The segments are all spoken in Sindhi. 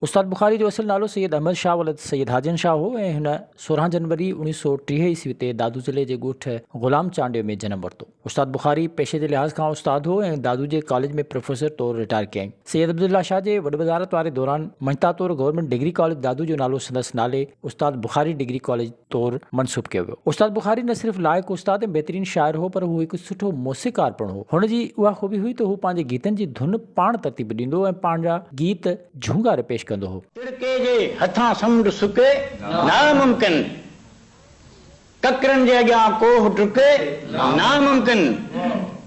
استاد بخاري جو اصل نالو سيد احمد شاهه ولد سيد حاجن شاهه هو ۽ هن سورهن جنوري اوڻيهه سؤ ٽيهه عيسوي تي دادو ضلعي جي ڳوٺ غلام چانڊيو ۾ جنم ورتو. استاد بخاري پيشي جي لحاظ کان استاد هو ۽ دادو جي ڪاليج ۾ پروفيسر طور رٽائر ڪيائين. سيد عبدالله شاهه جي وڏ وزارت واري دوران مڃتا طور گورنمينٽ ڊگري ڪاليج دادو جو نالو سندس نالي استاد بخاري ڊگري ڪاليج طور منسوب ڪيو ويو. استاد بخاري نه صرف لائق استاد ۽ بهترين شاعر هو پر هو هڪ سٺو موسيقار پڻ هو. هن جي اها خوبي هئي ته هو پنهنجي گيتن جي ڌن پاڻ ترتيب ڏيندو ۽ پنهنجا گيت جهونگاري پيش ڪندو هو. تڙڪي جي هٿان سمنڊ سڪي ناممڪن، ڪڪرن جي اڳيان ڪوهه ڊڪي ناممڪن،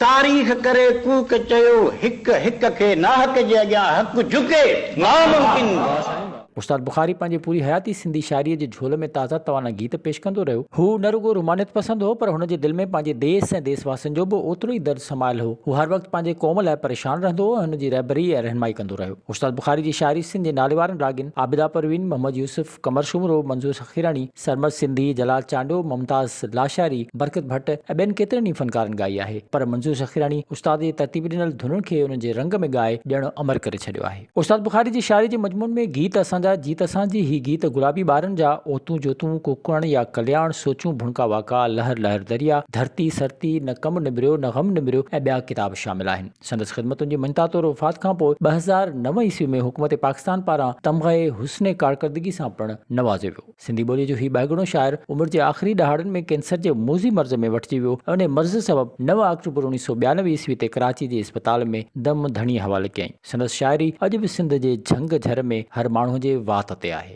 تاريخ ڪري ڪوڪ چيو هڪ هڪ کي ناحق جي اڳيان حق جهڪي ناممڪن. استاد بخاري پنهنجي پوري حياتي سنڌي شاعريء جي جهول ۾ تازه توانا گيت پيش ڪندو رهيو. هو نه رڳو رومانيت پسند هو، پر هن جي دل ۾ پنهنجي ديس ۽ ديس واسين جو به اوترو ئي درد سمايل هو. هو هر وقت پنهنجي قوم لاء پريشان رهندو هو ۽ هن جي رهبري ۽ رهنمائي ڪندو رهيو. استاد بخاري جي شاعري سنڌ جي ناليوارن راڳين عابده پروين، محمد يوسف، قمر سومرو، منظور سخيراڻي، سرمست سنڌي، جلال چانڊيو، ممتاز لاشاري، برڪت ڀٽ ۽ ٻين ڪيترن ئي فنڪارن ڳائي آهي، پر منظور سخيراڻي استاد جي ترتيب ڏنل ڌنن کي انهن جي رنگ ۾ ڳائي ڄڻ امر ڪري ڇڏيو آهي. استاد بخاري جي شاعري جي مضمون ۾ گيت اسان جا، جيت اسان جي، هي گيت گلابي ٻارن جا، اوتون جوتون، ڪوڪڻ يا ڪلياڻ، سوچون ڀڻڪا واڪا، لهر لهر دريا، ڌرتي سرتي، نه ڪم نبريو نه غم نبريو ۽ ٻيا ڪتاب شامل آهن. سندس خدمتن جي مڃتا طور وفات کان پوء ٻه هزار نو عيسوي ۾ حڪومت پاڪستان پاران تمغه حسن ڪارڪردگي سان پڻ نوازيو ويو. سنڌي ٻوليء جو هي ٻهگڻو شاعر عمر جي آخري ڏهاڙن ۾ ڪينسر جي موذي مرض ۾ وٺجي ويو ۽ انهيء مرض سبب نو آڪٽوبر اوڻيهه سؤ ٻيانوي عيسوي تي ڪراچي جي اسپتال ۾ دم ڌڻيء حوالي ڪيائين. سندس شاعري اڄ به سنڌ جي جهنگ جهر ۾ هر ماڻهوء جي وات تي آهي.